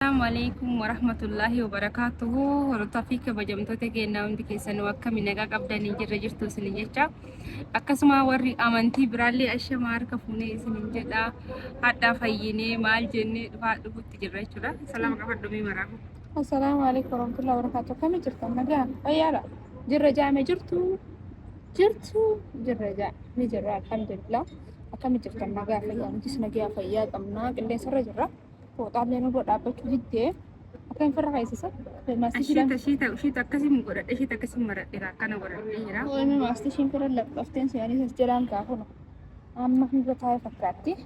Assalamu alaikum warahmatullahi wabarakatuhu hordofaa fi kabajamtoota keenya hundi keessanuu akkami nagaa qabdanii jirra jirtu isinin jecha akkasuma warri amantii biraallee ashamaa harka fuunee isinin jedha hadhaa fayyinee maal jennee dhufaa dhufutti jirra jechuudha salaama qabadhumee maraafu Assalamu alaikum warahmatullahi wabarakatuh. Kami jirtu nagaa fayyaadha. Jirra jaame jirtu jirtu jirra jaa ni jirra alhamdulillah. Akkami jirtu nagaa fayyaa nutis nagaa fayyaa qabna qilleensarra jirra. Fooxaallee nurra dhaabbachuu diddee akka hin firra keessisa. Shiita shiita shiita akkasii mu godhadhe shiita akkasii maradheera akkana godhadhe jira. Oolmi maastishiin firra laphafteen se'anii as jiraan kaafuna. Amma hanga taa'e fakkaatti.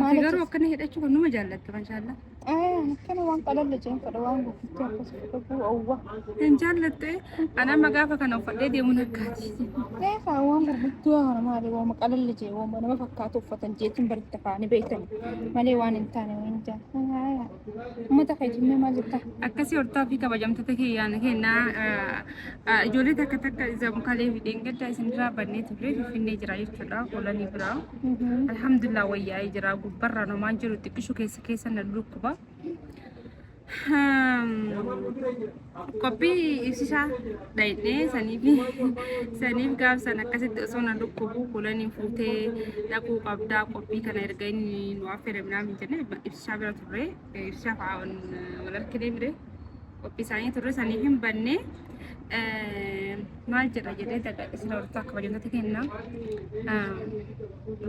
Ati garuu akkana hidhachuu kan nama jaallatta mashaallaa. Akkana waan qalalla jeen fedha waan guddiftuu akkasii fudhachuu owwa. Hin jaallattu An amma gaafa kana uffadhee deemuun akkaati. Gaafa waan gurguddaa kana maali waama qalalli jee waama nama fakkaatu uffatan jeetiin baritti afaanii beektan malee waan hin taane waan hin taane. Uummata fayyadamee maal jettaa? Akkasii hortaa fi kabajamtoota keeyyaana kennaa ijoollee takka takka zamkalee fi dheengaddaa isinirraa bannee turre finfinnee jira jechuudha oolanii biraa. Alhamdulillah wayyaa'ee jira gubbarraa nomaan jiru xiqqishu keessa keessa na lukkuba. qophii ibsisaa dhayinee saniif saniif gaafsan akkasitti osoo na dhukkubuu kulaniin fuutee dhaquu qabdaa qophii kana erga inni nu affeere minaa min jenne ibsisaa bira turre ibsisaa fa'aa wal arkinee mire qophii isaanii turre saniif hin banne maal jedha jedhee daga isin hortaa kabajamtoota kennaa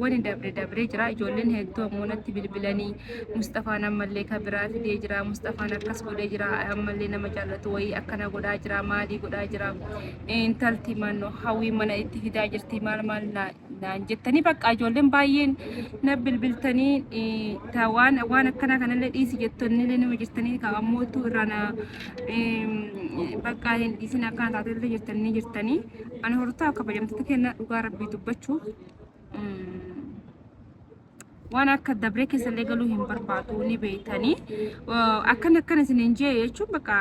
wani dabre dabre jira ijoolleen hedduu ammoo natti bilbilanii musxafaan ammallee ka biraa fidee jira musxafaan akkas godhee jira ammallee nama jaallatu wayii akkana godhaa jira maalii godhaa jira intalti manno hawwii mana itti fidaa jirti maal maal naa- naan jettanii bakka ijoolleen baay'een na bilbiltanii eh, ta waan waan akkana kanallee dhiisi jettonnillee nama jirtanii ka ammootu irraa na em, bakka hin dhiisin akkana taatellee jirtanii jirtanii Ani hortaa kabajamtoota keenya dhugaa rabbii dubbachuuf waan akka dabree keessa illee galuu hin barbaadu ni beeytanii akkana akkana isin hin jee jechuun bakka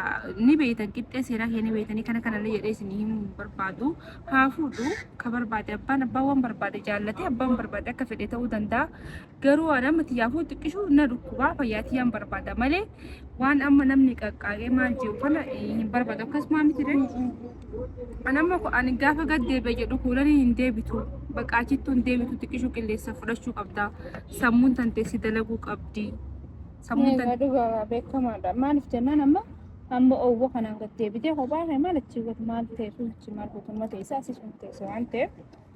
ni beeytan qixxee seeraa kee ni beeytanii kana kana illee jedhee isin himuu hin barbaadu haa fuudhu ka barbaade abbaan abbaa waan barbaade jaallatee abbaan barbaade akka fedhe ta'uu danda'a Garuu waan amma tiyyaafuu xiqqishu na dhukkubaa fayyaa tiyyaan barbaada malee waan amma namni qaqqaaqee maal jiru kana eh, hin barbaadu akkasuma miti dha. An amma ko- ani gaafa gad deebi'e jedhu kuulanii hin deebitu bakka achittuu hin deebitu xiqqishu qilleensa fudhachuu qabda sammuun tantee si dalaguu qabdi sammuun Egaa tantee dhugaa beekamaadha. Maaliif jennaan amma amma owwa kanaan gad deebitee kophaa kee maal achi godhu maal ta'e kun achi maal godhu amma teessa asis kun teessa waan ta'eef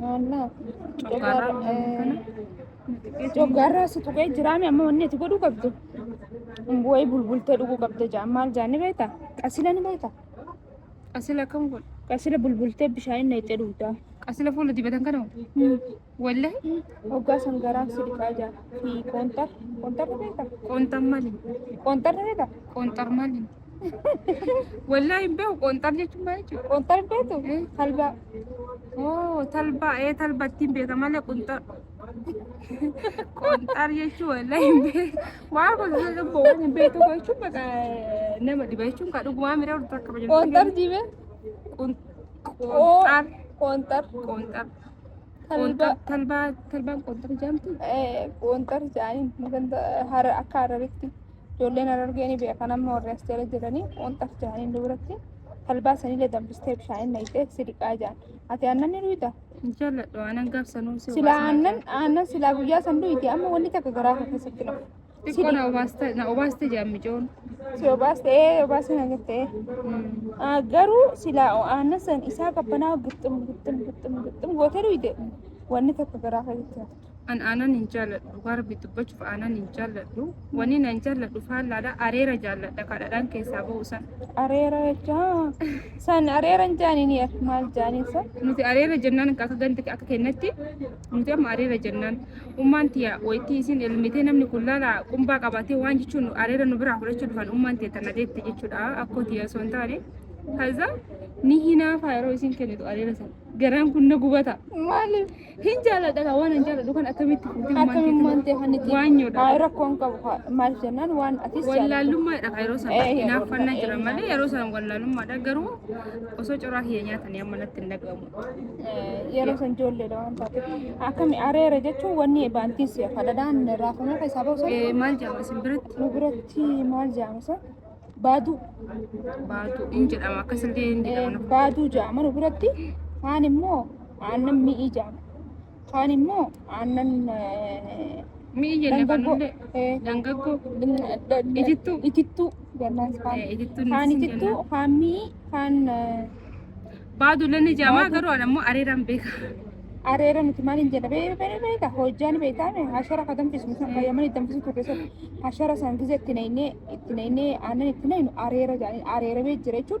Maallaa. Coggaarraa waan godhu kana xiqqeetti hin Coggaarraa si tuqee jiraame amma wanni ati godhuu qabdu. Bu'ee bulbultee dhuguu qabda jaa maal jaa ni beekta? Qasila ni beekta? qasila akkam godhu. Qasila bulbultee bishaan inni itti dhugdaa. Qasila fuula dibatan kana hoo? Wallahi Hoggaa san garaa si dhiqaa jaa. Fi qoonxar. Qoonxarri beekta? qoonxar maali? Qoonxarri beekta? Qoonxar maali? Wallaa hin beeku qoonxar jechuun maal jechuudha? Qoonxar hin beektu? Talbaa. Oo talbaa ee talba ittiin beeka malee qunxar. Qoonxar jechuun wallaa hin beeku. Waa kun lubbu waan hin beektu jechuun baqa nama dhiba jechuun kan dhugumaa miira urtu akka bajan. Qoonxar jiibee? Qoonxar. Qoonxar. Qoonxar. Talbaa. Talbaa talbaan qoonxar jaamtu. Qoonxar jaaniin maganta hara akka hararitti ijoolleen harargee ni beekan amma warri as jala jiranii qoonxar jaaniin duratti talbaa sanillee danbistee bishaaniin naqxee sidiqaa jaan. Ati aannan ni dhuyda? Hin jaalladhu aanan gaaf sanuu si Silaa aannan aannan silaa guyyaa san dhuydi amma wanni takka garaa kee keessatti nafu. Xiqqoo na obaaste na obaaste jedhan micoon. Si obaaste ee obaasni na jette ee. Ah, Garuu silaa aannan san isaa qabbanaa gixxum gixxum gixxum gixxum gootee dhuyde wanni tokko garaa kee jettee hafte. An aanan hin jaalladhu dhugaa rabbi dubbachuuf aanan hin jaalladhu. Wanni na hin jaalladhu faallaadha areera jaalladha kadhadhaan keessaa ba'u san. Areera jechaa san areera hin jaaniin yaa maal jaaniin san. Nuti areera jennaan akka ganti akka kennatti Nuti amma areera jennaan ummaan tiya wayittii isin elmitee namni kun laala qumbaa qabatee waan jechuun areera nu biraa fudhachuu dhufan ummaan tiya tana deette jechuudha akkoo tiya osoo hin taane. Kaza ni hinaafa yeroo isin kennitu areera sana garaan kun na gubata. Maaliif? Hin jaaladha kaa waan hin jaaladhu kan akkamitti fuutee ummaan Akkamiin tiya waan ta'e kan itti waan nyoodha. Haa rakkoon qabu haa. maal jennaan waan atis jaallattu. Wallaalummaadha kan yeroo sana Eh, hinaaffannaa eh, jira eh, malee yeroo sana wallaalummaadha garuu osoo coraa kiyya nyaatanii amma natti hin dhagahamu. yeroo san ijoolleedha waan taate akkami areera jechuun wanni baantiis kadhadhaan raafamee keessaa ba'u sun Eh, maal jedhama isin biratti? nu biratti maal jedhama san baaduu Baatu in jedhama akkasillee in Eh, jedhama. baaduu jedhama nu biratti kaan immoo aannan mi'ii jedhama Kaan immoo aannan Mi'i jenne dangaggoo fannulle eh, dangaggoo da- da- Itittuu. itittuu jennaan kaan. eh, itittuun Kaan isin itittuu, jenna. kaan mi'i, kaan eh, Baadulle ni jamaa Baaduu. garuu ani ammoo areeraan beeka. areera nuti maal hin jedha bee- bee- beeka hojjaan beekaame hashara ka danfisu nuti akka yaman itti danfisu turre sun hashara san gize itti neynee itti neynee aannan itti neynu areera jedhanii areera bee jira jechuun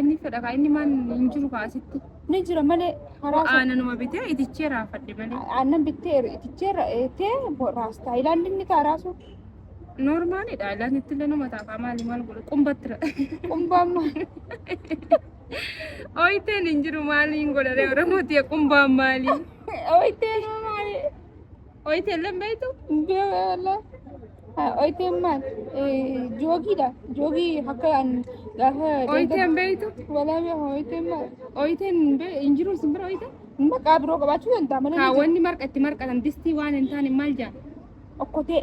Inni fedha kaa inni maan hin jiru kaa asitti. Ni jira malee karaa sana. Aananuma bitee itichee raafadhe malee. Aannan bittee itichee ra'eetee raastaa. Ilaalli inni kaa raasuu. Noormaalidha. Ilaan itti illee nama taafaa maali maal godhu qumbatti ra. Qumbaan maal? Ooyiteen hin jiru maaliin godhare Oromoo tiya qumbaan maali? Ooyiteen maali? Oyte illee beektu? Beela. Oyte maal? Joogiidha. Joogii akka an gaafa. Oyte hin beektu? Walaa beeku oyte maal? Oyte hin jiru isin bira oyte? Maqaa biroo qabaachuu danda'a malee. Kaawwanni marqa itti marqatan distii waan hin taane maal jedhama? Okkotee.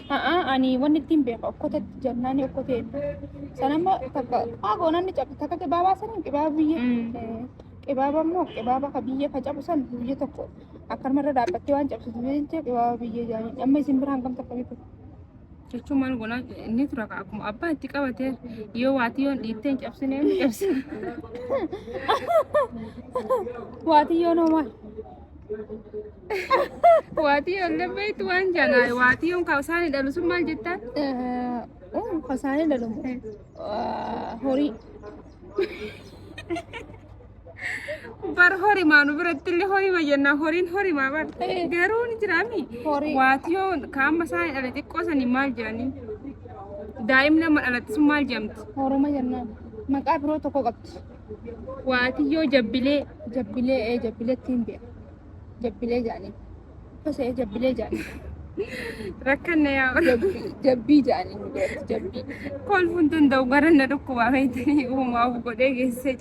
A'aa ani wanni ittiin beeka okkotatti jannaani okkotee inni. Sana immoo takka maa goonaan ni cabdi takka qibaabaa saniin qibaaba biyya. Mm. Eh, Qibaaba immoo qibaaba ka biyya ka cabu san biyya tokko akkanuma irra dhaabbattee waan cabsitu jecha qibaaba biyya jaaniin. Amma isin biraan kam takka beeku. Jechuun maal goona inni tura ka akkuma abbaa itti qabate yoo waatii yoon dhiittee hin cabsine hin cabsine. Waati yoo noo maal? Waatii ol dabbeetti waan janaa waatii on kaasaan hidhalu sun maal jettaa? Kasaanii dhalomu. Horii. Bar horimaa nu biratti illee horima jennaa horiin horimaa bar garuu ni jiraami. Horii. Waatii on kaama isaan hidhale xiqqoo sanii maal jedhanii? Daa'imni amma dhalatti sun maal jedhamti? Horuma jennaan. Maqaa biroo tokko qabdi. waatiyyoo jabbilee jabbilee ee jabbileetti hin beeku jabbilee jaanii kosee jabbilee jaanii rakkanna yaa jabbii jabbii jaanii nu biratti jabbii kolfuun tun ta'u gara na dhukkubaa beektanii uumaa of godhee geessee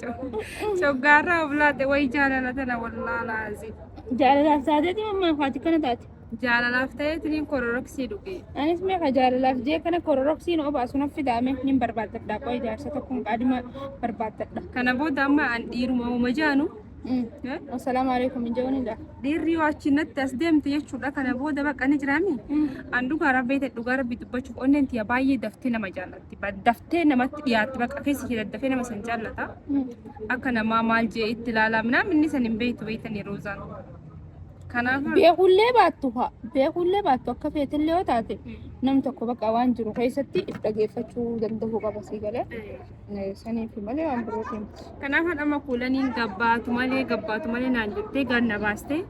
coggaarraa of laate wayi jaalala tana wallaalaa asii. jaalalaaf taateeti mammaa faati kana taate Jaalalaaf ta'eetiniin kororoksii dhuge. Anis mee ka jaalalaaf jee kana kororoksii na obaasu naf fidaame nin barbaaddadha qoy jaarsa tokkoon qaadima barbaaddadha. Kana booda amma an dhiiruma uma jaanu Assalaamu alaikum hin je'uun dha. dhiirri yoo achi natti as deemte jechuudha kana booda baqa ni jiraami. An dhugaa rabbii ta'e dhugaa rabbii dubbachuuf onneen tiyya baay'ee daftee nama jaallatti. Ba- Daftee namatti dhiyaatti baqa keessi ishee daddafee nama san jaallata. Akka namaa maal jee itti ilaalaa minaan inni san hin beektu beektanii roozaan. Kanaaf beekullee baattu haa beekullee baattu akka feetillee yoo taate nam tokko bakka waan jiru keessatti if dhageeffachuu danda'uu qaba sii galee Eh, saniif malee waan birootiin kanaaf amma kuulaniin gabbaatu malee gabbaatu malee naan jettee ganna baastee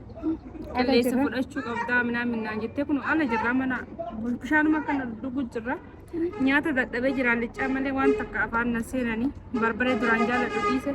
qilleessa jirra. fudhachuu qabdaa minaan minnaan jettee kun ala jirra mana bishaanuma kana dhuguu jirra nyaata dadhabee jira liccaa malee waan takka afaan na seenanii barbaree duraan jaaladhu dhiise